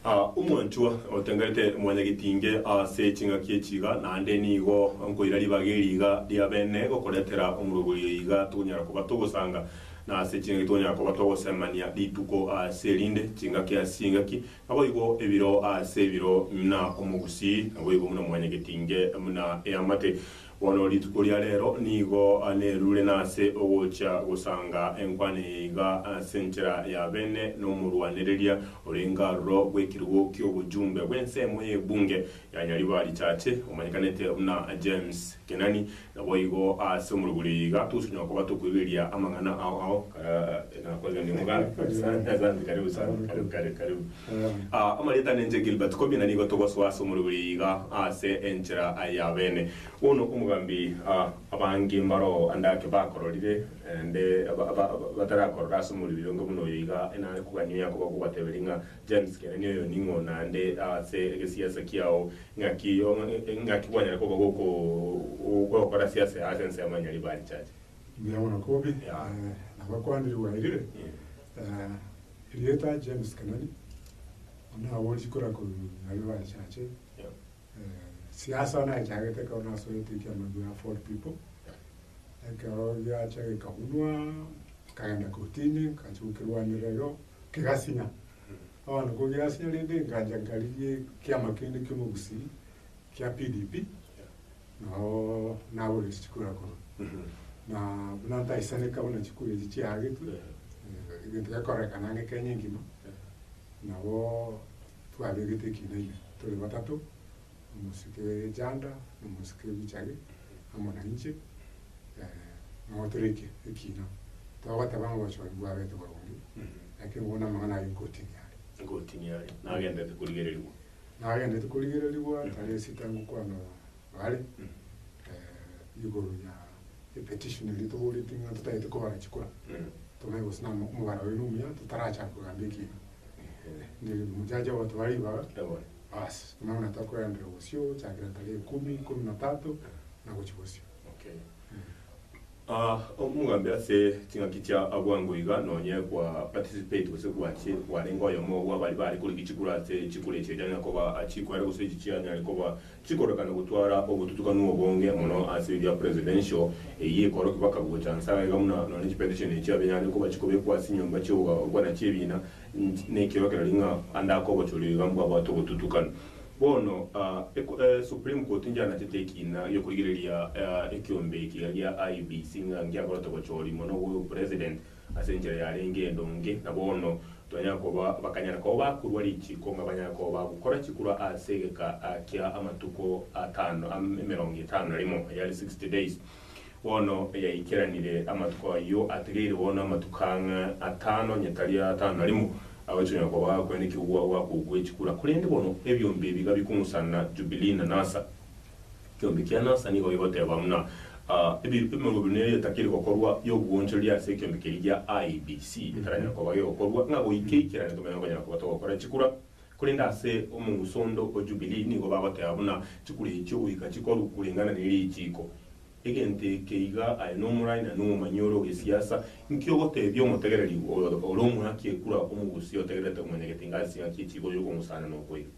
Aa, omwanchwa, otengerete mwanyagetinge ase ching'aki echi iga, naende nigo nkoira ribaga eri iga ri'abene gokoretera omorogori oyo iga tokonyara koba togosanga, na ase ching'aki tokonyara koba togosemania rituko ase erinde, chingaki ase chingaki, naboigo ebiro ase ebiro, muna omogusii, naboigo muna mwanyagetinge, muna eamate. Bono rituko ria reero nigo nerure nase ogochia gosanga enkwana eye iga ase enchera ya bene nomorwanereria orenge aroro bw'ekerogo ki'obojumbe bw'ensemo y'ebunge ya Nyaribari Chache omanyekanete buna James Kenani. Naboigo ase omorokori oyo iga togosanywa koba tokoigereria amang'ana ao ao. Karibu karibu sana. Asante asante karibu sana. Karibu karibu karibu. Amarieta nenche Gilbert Kobina nigo togosoa ase omorwi oria iga ase enchera y'abene. Bono omogambi abange mbaro ande ake bakororire nde batarakorora ase omorwi oria onge buna oyo iga enare kogania oyo akoba kobateberia ng'a James Kenani oyo ning'o naende ase egesiasa kiao ng'aki ng'aki gwanyara koba gokora siasa ase ensemo ya Nyaribari Church. Mbuya mono Kobi, nabakwanire bwairire. Erieta James Kenani buna aborisie kora korwa aria bachache siasa bono achagete ekero bono asoete ekiama gia Ford People ekero giacha gikabunwa nkagenda kotini nkachia gokirwanerera igo kegasinya bono ko giasinya rende nkacha nkarigia ekiama kende kia omogusii kia PDP nao nagoreti chikura korwa na buna ntaisaneka buna chikura echi chiagetwe egento gekorekana ang'e Kenya engima nabo twabegete ekina ime tore batato omosike Janda na omosike Bichage amo na inche nabo tore ekia ekina togoteba ng'a obochori mbwabete boronge ekero bono amang'ana aye egotinia are. Egotinia are nagenderete korigererigwa. Nagenderete korigererigwa tari esita ngokwana bare igoro ya epetition eria toboreti ng'a totagete kobara chikura tobe gose na omobaro oye nomuya totarachaka kogamba ekiina. Ndiri omojaja ogo tobare ribaga basi buna buna tokogenderera bosio gochakera tari ekumi, ikomi na tatu na gochia bosio. Ah, omogambi ase ching'aki chia abwango iga, nonye kwa participate gose gwache kwarenge oyomo bw'abari baare kore gichikura ase chikura echi eria anyare koba achikoera gose echi chianyare koba chikorekana gotwara obotutukanu obonge mono ase ebia presidential eyio ekorokigwa bakaba gocha nse agaiga buna nonye chipetition echio abenyare koba chikobekwa ase nyomba chi'okogokwana chi'ebiina nch nekiorokererio ng'a ande akobochoria iga mbwabwate obotutukanu. Bono, Supreme Court injanetete ekiina gi'okorigereria ekiombe ekiya gia IEBC ng'a ngiakorete bochori mono bw'o President ase enchera yarenge endonge, na bono twanyara koba bakanyara koba bakorua richiiko ng'a banyare koba bagokora chikorwa ase egeka kia amatuko atano, emerongo etano na rimo, yaani sixty days. Bono yaikeranire amatuko ayio ategeire bono amatuko ang'e atano onye tari atano na rimo, agochia onye koba kwene ekegwa gwakogwa echikura. Korende bono ebiombe ebi gabikong'usana Jubilii na Nasa. Ekiombe kia Nasa nigo gigoteba buna emerobero neria etakiri gokorwa y'obwoonchoreria ase ekiombe keria gia IBC etaranyara koba gegokorwa ng'a goika eikerane tomenye gokonyara koba togokora chikura. Korende ase omosondo o Jubilii nigo bagoteba buna chikure echio goika chikorwa koreng'ana ne richiiko. Egento eke iga aye nomorai na nomomanyi ore ogesiasa, inki ogotebia omotegereri ore omoaki ekura omogusii otegererete komanyegete inga ase engaki ye chiiko y'okomosaana na okoiga?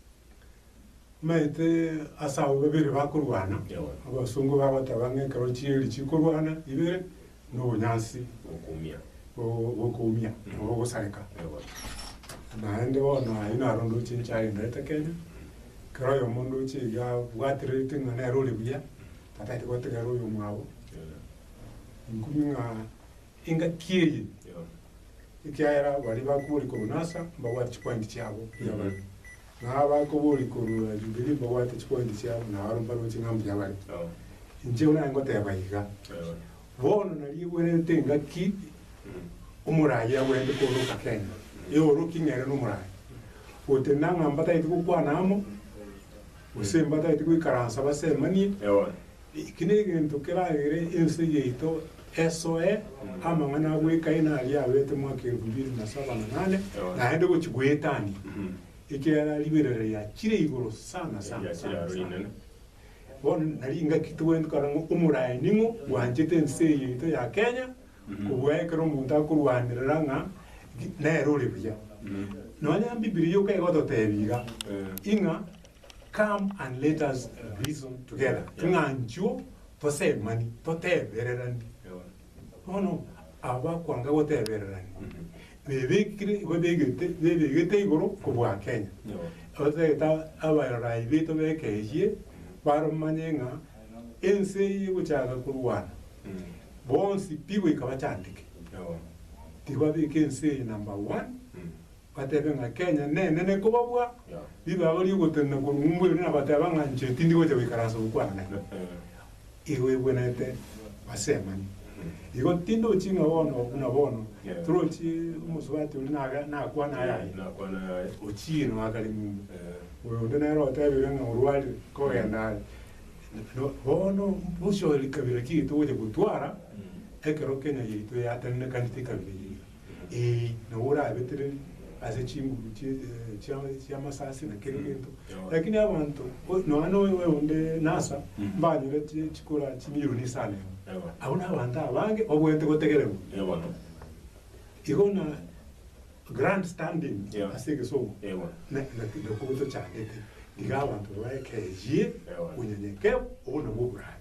Omanyete ase abwo babere bakorwana, abasongo bagoteba ng'a ekero chieri chikorwana ibere, nobonyansi Gokoumia. go- gokoumia, nabo ogosareka. Ewa. Naende bono ayio naro ndoche nchiagenderete Kenya, ekero oyomo ndoche iga abwatererete ng'a nere ore buya, tataeti gotegerera oyomwabo, Ewa. inkumia ng'a engaki eye, Ewa. ekiagera baria bakwa ore korwa Nasa, mbabwate chipointi chiabo, pi abana. Na abakoboria korwa Jubilii mbabwate chipointi chiabo, na abare mbaroche ng'a mbuya bare. Inche buna ngoteba iga, bono nariegwenerete engaki omoraai agwenerete kooroka Kenya, eoroki ng'a ere nomoraai, gotenena ng'a mbatagete gokwana amo, gose mbatagete goikaransa basemanie, Eki negento keragere ense yaito esoe amang'ana a bwekaina aria abete mwaka erefu ibere na saba na nane, naende gochia goetania, ekiagera riberera riachire igoro sana sana sana sana. Bono nari ingaki togwenerete korora ng'a omoraai ning'o bwanchete ense eye yaito ya Kenya, kobua ekero omonto akorwanerera ng'a nere ore buya. Nonya Bibilia iga igototeebia iga, ing'a Come and let us reason together, ng'a nchwo tosemani, totebererani. Bono aba bakwanga gotebererania, bebekire, babegete, bebegete igoro kobua Kenya. Otagete abarorai baito bekeyie baromanye ng'a ense eye egochaka korwana, bonsi pi goika bachandeke. Tibabeke ense eye number one. batebe ng'a Kenya nenene kobabua ribago riogotenena korwa ng'umbu ere nabateba ng'a inche tindi gocha goikara ase ogokwana igo egwenerete ase amani igo tindi ochie ng'a bono buna bono torochie omosubati oria naga nakwana ayaye ochie no akare ng'umbu oyo onde nere otebire ng'a orwarire kogenda are no bono bosio ekabira chiaito gocha gotwara ekero Kenya yaito yatenenekanete ekabira eyio. Ee, nabo orabetereri ase chinguru chie, eh, chia, chi'amasasi na kera egento. Lakini abanto, o- nonya noyo oyo onde Nasa, mbanyore chi- chikora chimilioni isano emo. Ewa. Abwo nabanto abange babwenerete gotegererwa. Ee bono. Igo na grand standing Yeah. ase egesomo Ewa. na- na- nakobwo tochandete iga abanto babe ekeyie Ewa. onyenyekeru obo nabwo oborari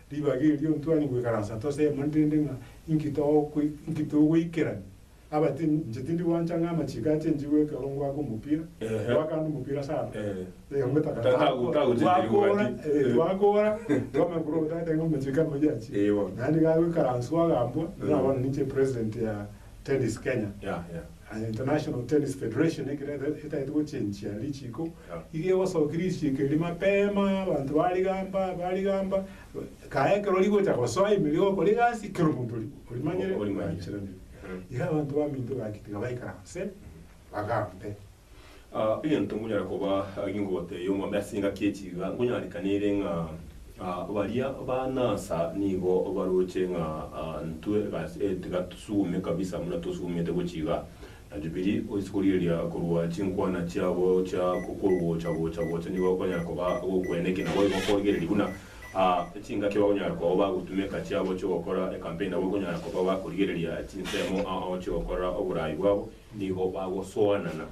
Ribaga erio ntwani goikaransa tosemani rende ng'a inki inki togoikerania. Aba ti, inche tindi gwancha ng'a amachiko ache inche goekerwa ngwake omopira, ngwakande omopira sana, eh, ngoeta kare gwakoora, eh, gwakoora twamanya korwa ogotaete ng'a amachiko amayia achia, naende iga agoikaranswa agambua, buna bono ninche epresident ya Tennis Kenya, Yeah, yeah. and International Tennis Federation ekero ete- etagete gochenchia richiko, Yeah. iga egosokia richiko eria mapema, abanto barigamba, barigamba, kae ekero rigocha gosoa ime rigokora egasi, kera omonto ori- orimanyire, Orimanyire. oranchereria. Mm. Iga abanto baminto bagatiga baikara inse, bagambe. Egento nkonyare koba gingote y'omwami ase engaki echi iga, nkonyarekaniire ng'a baria banansa nigo baroche ng'a intwe tiga tosugume kabisa buna tosugumete gochia iga. Na Jubilee oise korigereria korwa chinkwana chiabo chia kogocha gocha gocha nigo okonyara koba ogokwena eke nabo igo korigereria buna chingaki bakonyara koba bagotuma eka chiabo chi'ogokora ecampaign nabo okonyara koba bakorigereria chinsemo ao chi'ogokora oborai bwabo. Nigo bagosoanana.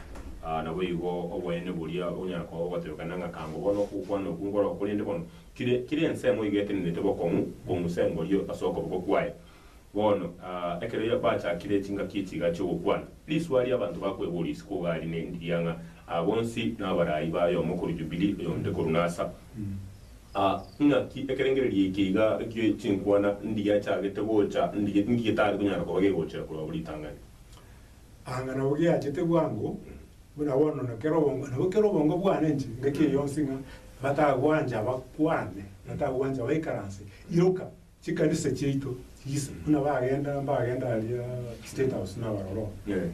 Aa, naboigo oboene boria onyara koba bogotebeka nang'akango bono okokwana okwo nkoroo, korende bono kire, kire ensemo iga etenenete bokong'u kong'usa engorio ase okoboko kwaye. Bono, aa, ekero bachakire chingaki echi iga chi'ogokwana, riswa ria abanto bakweboria isiko iga aria nendiria ng'a aa bonsi nabarai baye omo korwa Jubilii, oyonde korwa Nasa. Aa, ing'aki ekerengererio eke iga ekie chinkwana ndigiachagete gocha, ndigi, nki getari konyara koba gegochera korwa abwo ritang'ani? Anga nabo giachete bwango buna bono na kera obongo, nabo kera obongo bwane inche ngaki eyonsi ng'a batagwancha bakwane, batagwancha baikaranse, iroka chikanisa chiaito chise buna bagenda mbagenda aria State House nabarora oo. Eh.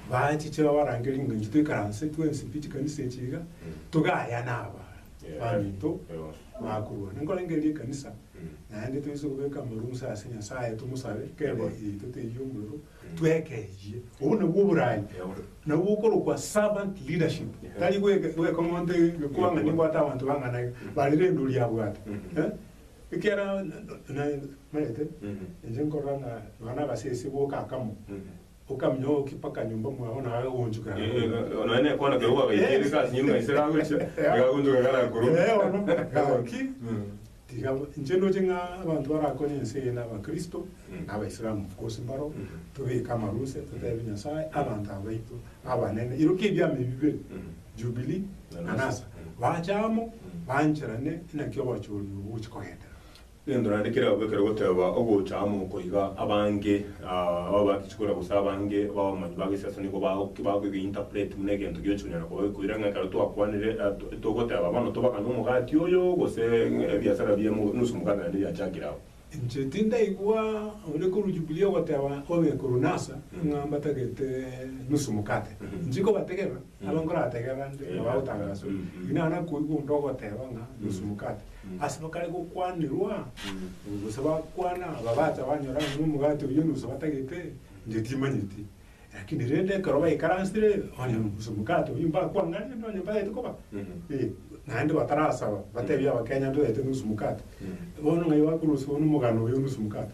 Bachiche babarange ring'ancho toikaranse twensi pi chikanisa echi iga, togayane aba Yeah. baminto Yeah. bakorwana. Nkorengeri ekanisa Naende toise kobeka amarusa ase Nyasaye tomosabe kere yaito teiyo omorero, twekeyie. Obwo nabwo oboraai. Nabwo okorokwa servant leadership. Tari goika goika omonto egekoba ng'a nimbwate abanto bang'ana iga, bare rende oria abwate. Eh? Ekiagera na- na- na- naete, inche nkorora ng'a nonya na agasese goka akamo, Okamenya ogokia mpaka nyomba mwao naye agagoonchoka Eh, eh, agakoira. nonya nekwana keria gwagaikire Yes. kasi nyuma ase gagochia, agagoonchoka garakorwa. Eh, bono, gaki, Mm. tiga inche ndoche ng'a abanto barakonye ense eye na abakristo Mm. na abaisilamu bwose mbaro Mm. tobeke amaruse toteebe nyasae abanto abaito abanene iroka ebiama ebi bibere Mm. jubilee Na na Nasa. nasa Mm. bache amo Mm. bancherane naki obochori obo bochi kogenderera Egento naende keragwe ekero goteeba ogocha amo oko iga, abange abwo bagichia koira gose abange b'abamanyi ba gesiasa nigo bagoki bagoki interpret buna egento gioche konyara koba gekoira ng'a ekero twakwanire togoteeba bono tobagane omogati oyo gose ebiasara bia nusu mokate naende biachakire abwo. Inche tindaigwa onde korwa Jubilee ogoteeba obe korwa Nasa ng'a mbatagete nusu mokate. Inche nkobategerera Nabo nkoratebia abanto ng'a bagotangaswa, inwe nabo nakoigwa onde ogoteba ng'a nusu mokate. Ase bakare gokwanirwa, gose bakwana, aba bacha banyora ng'a omogate oyio nusu batagete, inche timanyeti. Rakini rende ekero baikaransire, onye nusu mokate oyio mbakwang'aneire onye ntagete koba, eh, naende batarasaba, batebie abakenya ntogete nusu mokate. Bono ng'ai bakorosia bono omogano oyo nusu mokate?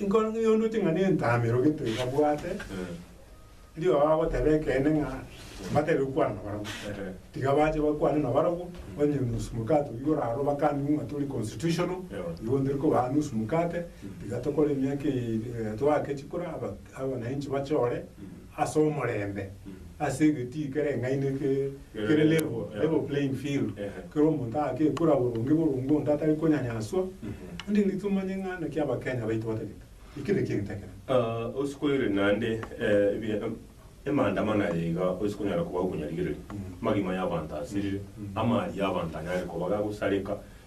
Inkoro ng'ai onduti ng'a nentamero gete iga bwate rirooro agoteba ekeene ng'a mbatere gokwana nabarabwo? Tiga bache bakwane nabarabwo, onye nusu mokate oyio orarwe bakane ng'a tori constitutional, igo ntori kobaa nusu mokate, tiga tokore emiaka eye, eh, toake chikura aba- abananchi bachore ase omorembe, ase egetii kere eng'aini ke, kere level, level playing field, kera omonto agakekura boronge boronge onde atari konyanyaswa, onde nigo tomanye ng'a naki Abakenya baito batagete. Ekio nekio egento ekenene. Ah, ase koirera naende eh, ebi- eh, emaandamano aya iga ase konyara koba okonyarigereria, amagima y'abanto asirire, amaaria y'abanto anyare koba gagosareka,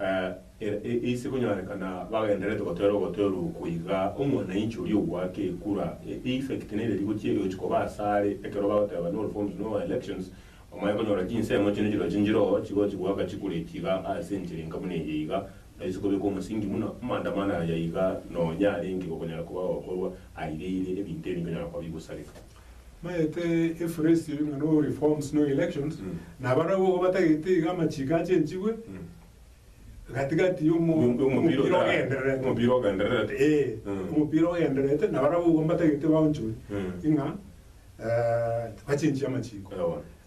Ee, ise konyorekana bagendererete gotera ogotera oko iga, omwanainchi oria ogoaka ekura, e-effect, na ereri gochia egochi koba asare, ekero bagoteba null forms, null elections, omanye konyora chinsemo chiane chirochio nchiroo chigochi goaka chikura echi iga ase enchera enka buna eye iga, naise kobeka omosingi buna amaandamano aya iga nonya arenge gokonyara koba gokorwa aireire ebinto ebi bikonyara koba bigosareka. Maete Efuresi oyo ng'a no reforms no elections, na abarabwo igo batagete iga amachiko achenchigwe gati-gati y'omo- Yo- y'omopira y'omopira otarara. ogendererete. Omopira ogendererete. Eh, Mm. omopira ogendererete na abarabwo igo mbatagete baonchwe Mm. ing'a eh, bachenchie amachiko. Ewa.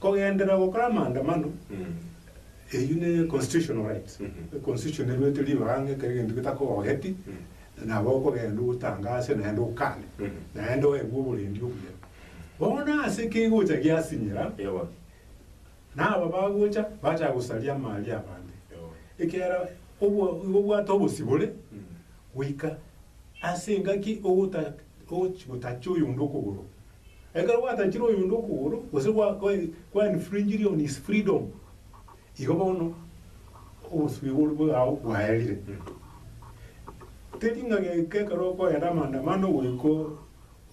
Kogenderera gokora amaandamano, eyio ne constitutional right, constitution eruete ribaga ng'a ekero egento getakogogeti, nabo okogenda ogotangase naende okane, naende oegwe oborendi obuya. Bono ase ki gocha giasinyera, na aba bagocha bachaka gosaria amaria abande, ekiagera obwa igo obwate obosibore. Goika ase engaki ogotachia oyonde okogoro. Ekero gwatachire oyonde okogoro, gose kwa infringed on his freedom, igo bono obosibwa oboria bwao bwaerire. Teri ng'a goika ekero okoenda amaandamano goika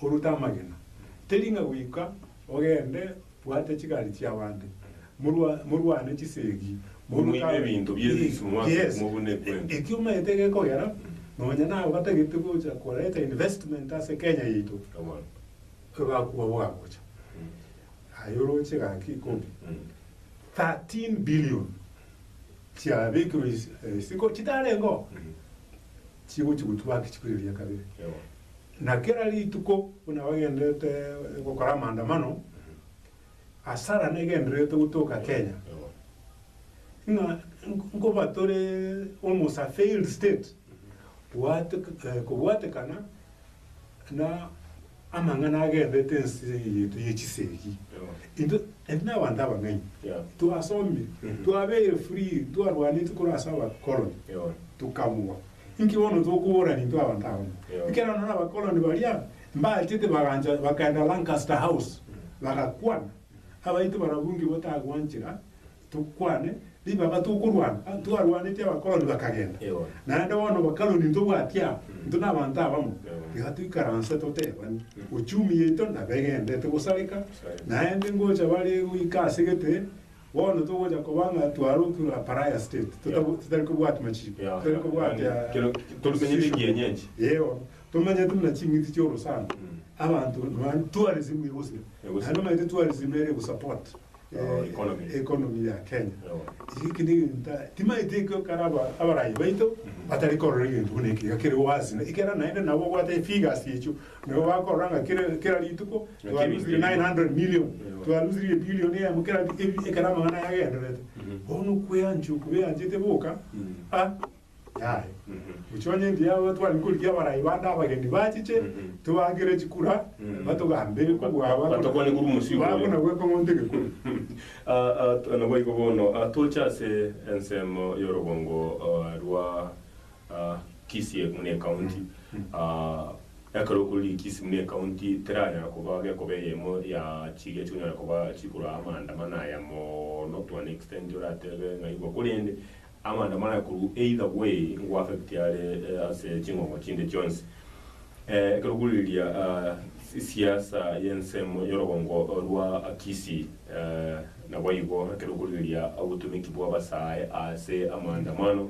orute amagena. Teri ng'a goika ogende Bwate chigari chi'abanto, morwa, morwane chisegi, moruke Momoime abe- ebinto bie risu, mwake Yes. mobune ekwembe. Ekio omanyete gekogera, nonya nabo batagete gocha koreta investment ase Kenya yaito, Ewan. egakwa bwagocha. Aye oroche gaki ikobi. Mm. 13 billion chiabekirwe isi- eh, isiko chitarengeo, chigochi gotwa gaki chikoireria kabere. Ewan. Na kera rituko buna bagenderete gokora amaandamano, hasara negendererete gotoka Kenya ng'a nkoba tore almost a failed state kobwatekana na amang'ana agenderete ense eye yaito ye chisegi. Intwe nabanto abang'aini twasomire, twabeire free, ntwarwaneti korwa ase abakoroni tukabugwa. Inki bono tokobora intwe abanto aba? Ekero nonya abakoloni baria mbaachete bagancha bakaenda Lancaster House bagakwana, abaito barabwo inki botagwanchera tokwane ribaga tokorwana? Ah, twarwanetie abakoloni bakagenda. Ewa. Naende bono bakaloni intwe bwati aba, intwe nabanto abamo. Ewa. Iga toikaranse totebani, ochumi yaito nabegendete gosareka, Sareka. naende ngocha bare goika ase gete Bono togocha koba ng'a twarokirwe a pariah state, totari kobwati machiiko, totari kobwati restrictions, eeo, tomenyete buna ching'iti chia orosana, abanto nonya tourism egosira, naende omanyete tourism ere egosupport economy ya Kenya, eke na egento timaeti ekio kare abarayi baito batari korora egento buna eke iga kere waasi, ekero naende nabo obwate efigures echio. Nigo bakorora ng'a kera kera rituko Ng'a twa kera lose rituko. 900 million Eyo. twa lose ye billion eyemo kera rituko ebi ekero amang'ana aya agendererete Mhm. bono okweanchwa okwo beanchete boka Mhm. a yaye Mhm. gochia onye engiya yabo twari korigia abarai bande abageni bachiche Mhm. tobakere chikura Mhm. batogambere Ba- kobua ba- batokwane korwa omosiko oyo. bakona gweka omonto egekuri Ah, ah, t- naboigo bono ah, toche ase ensemo y'orogongo ah, rwa Kisii buna ecounty, ekero okororire Kisii buna ecounty teranyara koba gekoba eyemo ya chiga chionyare koba chikorwa amaandamano aya mono to an extent oratebe naigwa korende amaandamano aya korwa either way nko affect are ase ching'ong'o chinde chionsi. Ekero okoriria siasa y'ensemo y'orogongo rwa Kisii naboigo ekero okoriria obotomeki bw'abasae ase amaandamano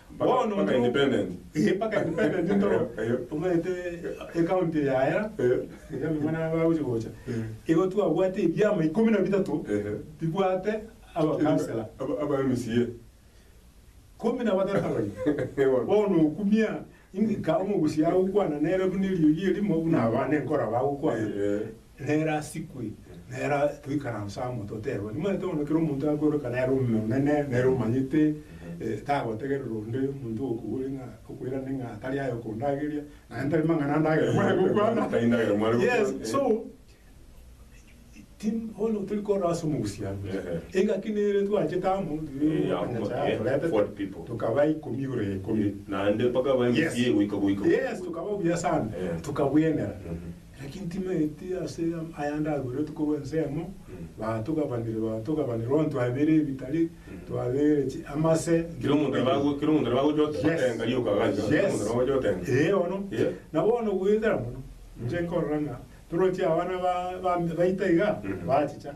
Bono Mpaka intwe- independent. Eh, mpaka independent intoro Eyo. omanyete ecounty yaera Eh. iga abamura bagochi gocha Eh. igo twabwate ebiama ikomi na bitato Ehe. bibwate abakansela Aba- aba MCA. komi na batato abaya Ewa. bono okumia ingika omogusi agokwana nere buna eriogi erimo buna abana enkoro abagokwana Eh, eh. Nere asikwe, nere toikaranse amo toterwe, nimanyete bono ekero omonto akoireka nere omonene, nere omanyete, eh, tagotegerera onde omonto ogokobori ng'a okoirane ng'a tari aye okondageria, naye ntari mang'ana andagere mware gokwana. Tari ndagera mware gokwana, Yes, eh. so ti- bono tori korora ase omogusia amo. Ehe. Engaki nere twachete amo, Eh, amo, okanyacha eh, yatorete, forward people. tokaba ikomi igoro ya ikomi. Naende mpaka bae Yes. misigo goika goika. Yes, tukaba buya sana, Eh. tukabuenera. Mhm. Naki ntimaeti ase aya ndaberetwe korwa ensemo, baatogabanire, baatogabanire, onto abeire ebitari, twabeire chi- amase, Kera omonto nere bagwe- kera omonto nere bagocha ote- Yes. otenga rioka gachia, kera omonto Yes. nere bagocha otenga. Ee bono, Yeah. na bono goetera mono, inche nkorora ng'a toroche abana ba- ba- baita iga, Mm. bachicha,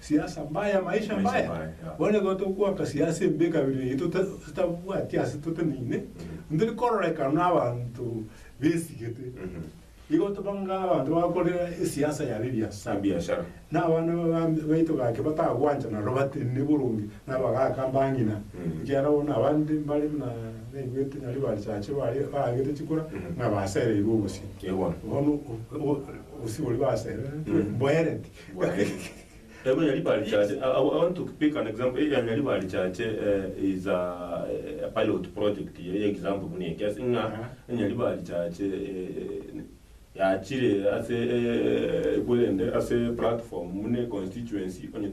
Siasa mbaya, maisha mbaya, bono ekero togoaka siasa embe ekabere eye tota totabwati ase toteneine, ntari kororeka nabanto besigete, igo tobanga abanto bakorera esiasa yabo ebiasara, Ebiasara. na abana ba- ba- baito gake batagwancha naro batenene boronge na abagaka mbang'ina, ekiagera bono abande mbare buna naigwete nyari bachache bare baagete chikura ng'a basereirwe obosie. Yebono. Bono o- o- obosie boria basereretwe mboereti. Taibo ya ribare chache, I want to pick an example, eria ya ribare chache is a pilot project ye example buna eke, ase ng'a onya ribare chache yachire ase ekorende ase platform buna econstituency, onye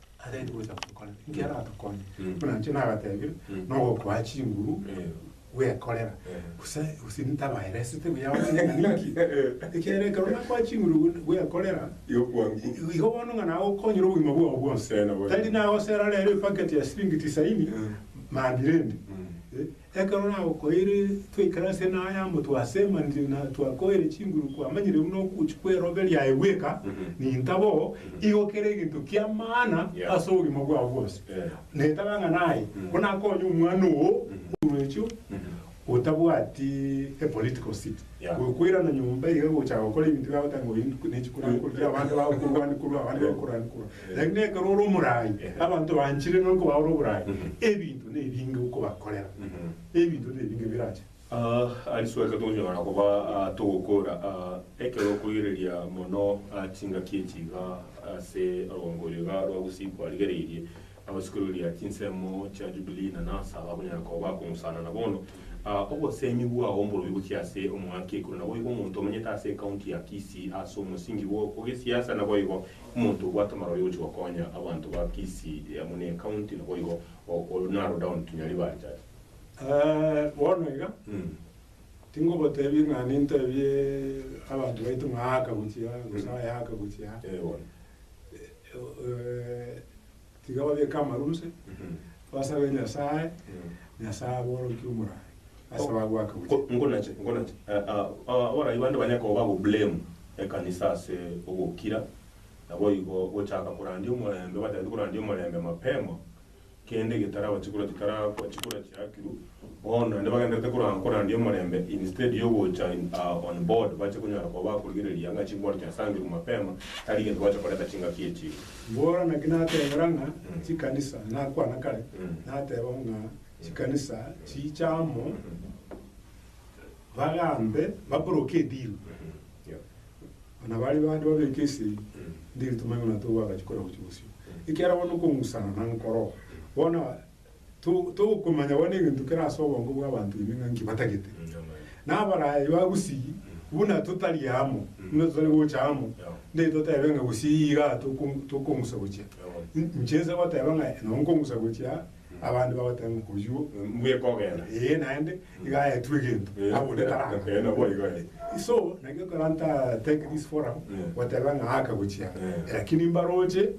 Arenge gocha gokora enki aratokonye, Mm. buna inche nabatebire, Mm. nogokoa chinguru Eh. bwekorera, Eh. gose gose ntabaeresete buya onye ng'a ninki. Ekiagera ekero nakoa chinguru bwe- bwekorera, Igo kwangu. i- igo bono ng'a nagokonyire obogima bwao bwonsi. Eh, nabo- Tari nagosera rero ebaketi ya siringi tisaini, Mm. mambire ende. Mm. Eh, Ekero nagokoeire twaikare ase enanga ya motwe ase emaniri na twakoeire chinguru kwamanyire buna okochi kw'erobe riaye bweka, ninta bo igo kere egento kia maana ase obogima bwao bwonsi. Netaba ng'a naye ko nakonye omwana oo orwechio otabwati a political seat gokoirana nyomba iga gocha gokora ebinto biagotaka ng'a oyi nechi korwa korwa abanto bagokorwani korwa abande bagokorwani korwa. Lakini ekero ore omoraai, abanto banchire nonya koba ore oboraai, ebinto nebinge okobakorera, ebinto nebinge birache. Aa risoeka tonyora koba aa togokora aa ekero okorigereria mono aa chingaki echi iga ase rwango oyo iga rwa gusii kwarigereirie agosikororia chinsemo chia Jubilee na Nasa abakonyara koba bakong'usana na bono aa obosemi bwao mborobio gochia ase omwaka ekoro naboigo omonto omenyete ase ekaunti ya Kisii ase omosingi bw'okogesiasa naboigo Omonto obwate amaro yogochia gokonya abanto ba Kisii amo ne County naboigo o narrow down to Nyaribari tata. Eeh bono iga tingobotebi ng'a nintebie abanto baito ng'a aka gochia aa gose aya aka gochia aa. Eeh bono. Tiga babeke amarunse, basabe Nyasae, Nyasae aborokie omorai, ase bagoaka gochia. Ko, nkonache, nkonache, eh, ah, ah, abarai bande banyare koba bagoblame ekanisa ase ogokira, naboigo gochaka korandia omorembe, batagete korandia omorembe mapema, kende getarabachikorwa chitara, chikora chiakiru. Bono naende bagenderete koranga korandia omorembe instead yogocha in a on board bache konyara koba bakorigereria ng'a chingwanto chiasangirwe mapema tari gento gwacha koreta chingaki echio. Mbora naki natebera ng'a chikanisa, nakwana kare nateba ng'a chikanisa chiche amo bagambe bakoroke edilu na baria bande babeke ase ndiru tomanye buna togwagachi kore gochi bosio ekiagera bono okong'usana nankoro bono Togokomanya bono egento kere ase obongo bw'abanto ime ng'a nki batagete. Na abaraya iga gusii, buna totari amo, buna totari gocha amo, ndiri totebe ng'a gusii iga tokong'usa gochia. Inche inse goteba ng'a nonye nkong'usa gochia, abande bagoteba ng'a oyio, mbuya ekogenda. Ee naende, iga ayetwe egento, abo onde tarakore. So, naki ekero nta take this forum, goteba ng'a aka gochia, lakini mbaroche,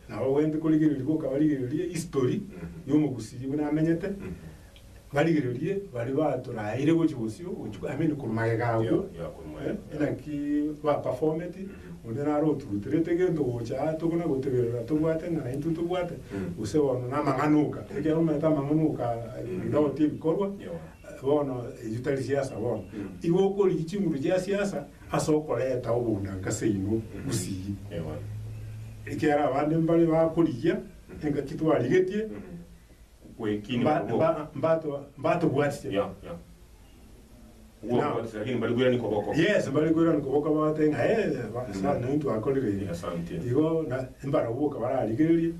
Nabo abwenerete korigereria goka barigererie history y'omogusii buna amenyete, barigererie baria baturaeire gochia bosio gochia I mean korwa magega agwo inaki ba performeti onde naro oturuterete gento gocha aa tokona goteberera tobwate ng'a intwe tobwate gose bono na amang'ana oka ekiagera omanyete amang'ana oka onde agotebi korwa bono ebi tari siasa bono igo okorigia chinguru chia siasa Ase okoreta obonyanka ase inwe bosii, ekiagera abande mbare bakorigia engaki twarigetie, mbatobwatire. Yes, mbare kwerania koboko bagoteba ng'a ee, ase aya naintwe akorire ere. Igo na, mbarabwo boka bararigererie,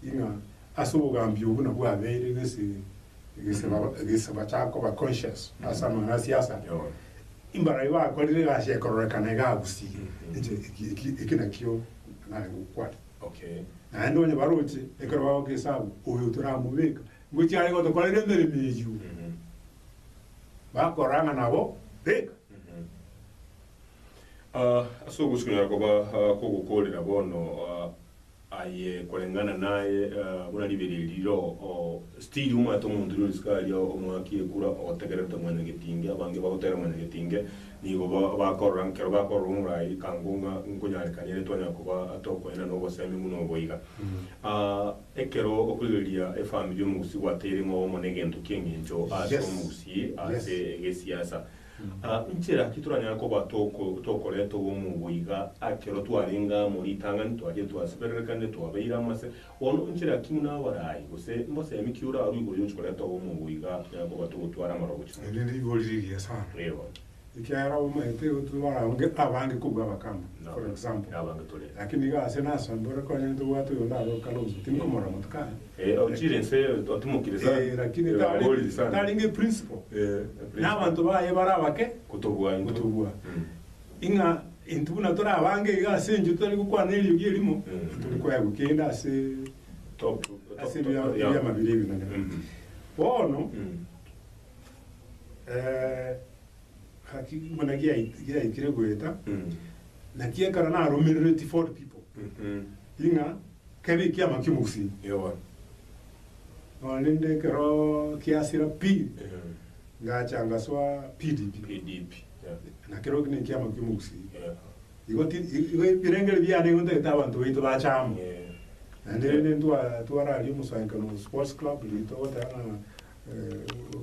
ing'a Ase obogambi obwo nabwo abeire egese egeseba egese bachakoba conscious ase amang'ana a siasa. Mbaroria bakorire egasi ekororekana iga agusii inche eki eki eki nakio narenge gokwana. Naende onye baroche ekero bagoka esabu oyo toramobeka ngochia are gotokorera emeremo eyio bakorang'a nabo beka. Ase ogosii konyara koba kogokorera bono. aye koreng'ana naye buna ribera eri riroo oo stiri omwete omonto ri orisiko aria omwaki ekura otegererete mwene getinge abange bagotera mwene getinge nigo ba bakorora nkero bakorora omorai kango ng'a nkonyarekania ere twanya koba tokoena na obosemi buna obo iga aah ekero okorigereria efamiri omogusii gwateire ng'obomo na egento ki'engencho ase Yes! omogusii Yes! ase egesiasa Nchera ki toranyare koba tokoreta obomubo iga ekero twarenge amo ritang'ani, twachire twasibererekane, twabeire amo ase? Bono nchera ki buna abarai gose mbosemi ki orarue igoro y'ogochia koreta obomubo iga tonyare koba togotwara amaroro gochia Eri nere rigori rigiya sana, Nigo. ekiagera obomaete tobarange abange kobua abakamba, for example, Nabange tore. lakini iga ase na ase mbore konyene tobwate oyo ondaroke Kalonzo, tindi komorora motuka aye. Eh ochire inse otimokire sana. Eh lakini tarenge tarenge principle. Eh. Na abanto baye bare abake. Kotobua intwe. Kotobua. Ing'a intwe buna tore abange iga ase enchwe totari gokwana eriogi erimo. Tari koegwa kende ase Top ase ebia ebiamabera ebinene. Bono eh gaki buna giaiti giaikire goeta. Naki ekero naromerereti for people. Ing'a. Kebe ekiama ki'omogusii igoro. Nonya rende ekero kiasira pi, ngacha ngasoa PDP. Na keroki ne ekiama ki'omogusii. Igo ti, igo ebirengererio biane igo ntagete abanto baito bache amo. Naende rende ntwa, twararia omosaankano sports club, rito ogoteba ng'a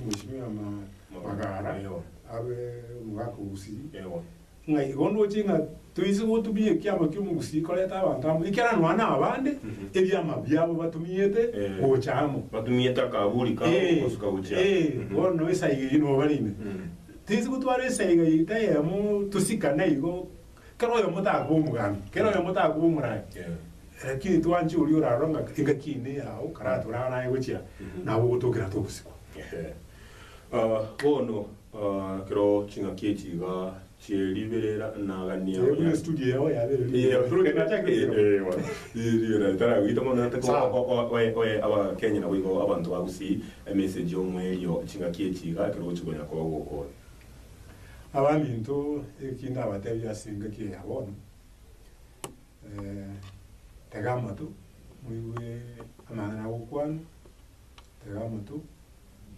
Mweshimiwa Magara abe omogaka o Gusii. Ng'a igo ndoche ng'a toise gotumia ekiama ki'omogusii koreta abanto amo, ekiagera nonya na abande ebiama biabo batumiete gocha amo. Batumiete akaburi kabo Ee, gosuka gochia amo. ee, Mhm. bono nabo esaiga eyio nigo barenge. Mm. Toise gotwara esaiga eyio tayemo tosikane igo, kera oyomo takoba omogambi, kera oyomo takoba omorai. Yeah. Lakini twanche oria orarora ng'a engaki eyio neyao, karatorane aye gochia nabo ogotokera togosikwa. Ehe. Ah, bono Ekero ching'aki echi iga chi'eriberera nagania Ee, buna estudio yao yabere riberera. Sawa. oye abakenya nabo igo abanto ba Gusii emesegi omwerio ching'aki echi iga ekero ogochi konya koba gokora. Abanto eki ndabatebie ase engaki eya bono, tega amato moigue amang'ana agokwanwa, tega amato.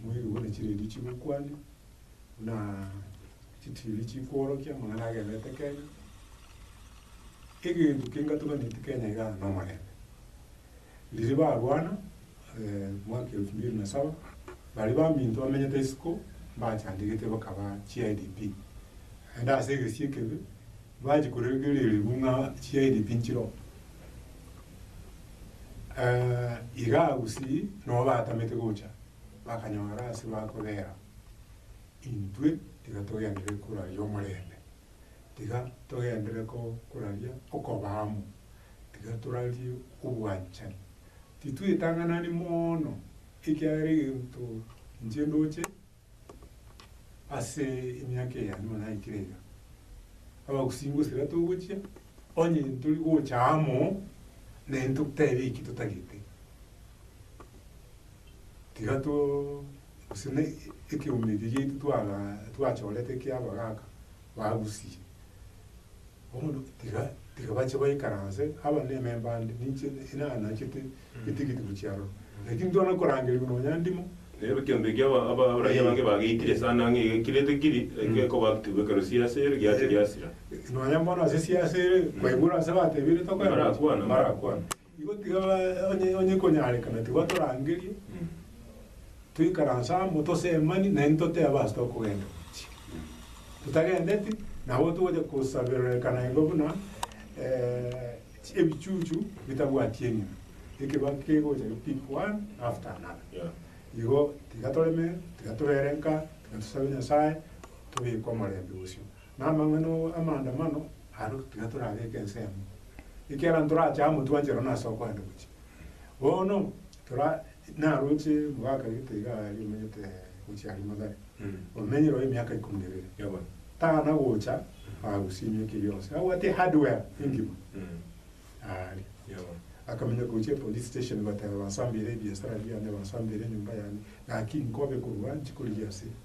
Moibi buna chiredi chigokwania, buna chitiri chikoorokia, amang'ana agenderete Kenya. Egento kengatuganeti Kenya iga nomorembe. Riria barwana mwaka elfu mbili na saba, baria baminto bamenyete isiko, mbachandegete bakaba chi IDP. Naende ase egesie ekebe. Bache korengereria ribu ng'a chiaini tinchiro. Eh, iga gusii nabo batamete gocha, bakanyora ase bakobera, intwe tiga togenderere koraria omorembe, tiga togenderere ko koraria okoba amo, tiga torarie obwanchani. Titwetang'anani moono, ekiagera egento inche ndoche. ase emiaka eye yanyuma naikire iga, abagusingusera togochia, onye ntori gocha amo, naende ntotebe eki totagete. Tiga too gose ne ekeumbe eke giaito twagaa twachorete kia abagaka. bagusie. Bono tiga tiga bache baikaranse, aba nememba ande, ninche inanachete etigiti gochia aroro. Lakini twana korangeria buna onya ndimo. Nero ekeombe ekia aba- aba- abarwaire abange bageitire esano ang'e iga ekire tekiri, eke ekoba active ekero siase ere giacha giasira. Nonya bono ase siase ere, kwaigure ase batebire tokoyorosia, Mbarakwane. mbarakwane. Igo tiga onye onye konyarekana tiga torangerie toikaranse amo tosemani naende totebe ase tokogenda gochia. Totagendeti nabo togocha kosabererekana igo buna eh, chi- ebichuchu bitabwati enyuma ekeba kegocha ki pick one after another Yeah. igo tiga toreme tiga tobere nka tiga tosabe Nyasaye tobeke omorembe bosio. Namang'ana oo amaandamano aro tiga torabeke ensemo, ekiagera ntorache amo twanche rora nase okoenda gochia. Bono tora naroche mwaka gete iga aria omanyete gochia aria Mathare, omenyire oo emiaka ikomi na ebere. Yabo. Tana gocha agosimia ki gionsi, abwate hardware engima aria. Yabo. Akamenya gochia police station goteba bansambeire ebiasara biane, bansambeire enyomba yane, gaki nkobe korwa nchikorigia ase.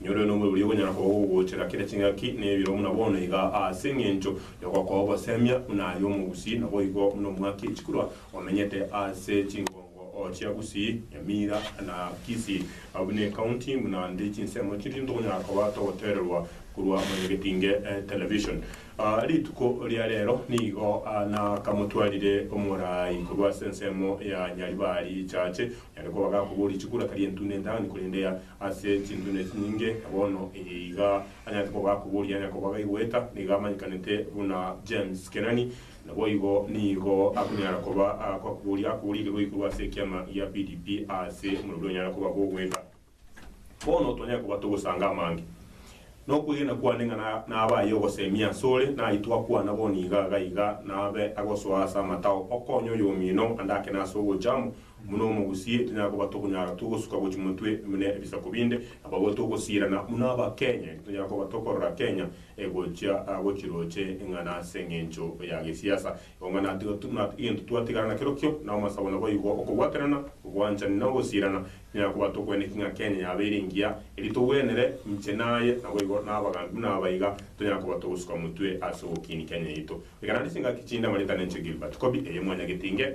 Nyore nomori oria okonyara kogogochera kera ching'aki na ebiro buna bono iga, aase engencho yogokoa ogosemia buna aye omogusii, naboigo buna omwaki echikurwa omenyete aase chingongo chia Gusii, Nyamira na Kisii, abwo ne county buna nde chinsemo chiri ntokonyara koba togotererwa korwa Mwenyegetinge Television. Rituko ria rero nigo nakamotwarire omorai korwa ase ensemo ya Nyaribari Church, onyare koba gakoboria chikurwa tari entune endani korende Ase chintune chinyinge bono eye iga anyarete koba akobori anya koba gaigweta, nigo amanyekanete buna James Kenani. Naboigo nigo akonyara koba akobori akoborigerwe igoro ase ekiama gia PDP ase omorero oria onyare koba bw'ogweka. Bono twanyare koba togosanga amange. Nokwegena kwane ng'a nabe aye ogosemia asore, nari twakwana bono iga iga iga nabe agosoa ase amatao okonye oyomino andake nase ogocha amo. Buna omogusie, tonyara koba tokonyara togosuka gochia motwe buna ebisaku binde, abagore togosiirana buna abakenye, tonyara koba tokorora Kenya egochia gochiroche eng'ana ase eng'encho ya gesiasa. Eong'a natiga egento twatigara nakerokio na amasabo naboigo okobwaterana, obwanchani na ogosiirana. Tonyara koba tokweneki ng'a Kenya yabeire engiya erio togwenere inche naye naboigo nabagambi buna abaiga tonyara koba togosuka motwe ase ogokiini Kenya yaito. Reka naande chingaki chinde amareta nenche Gilbert Kobi eye mwanyagetinge.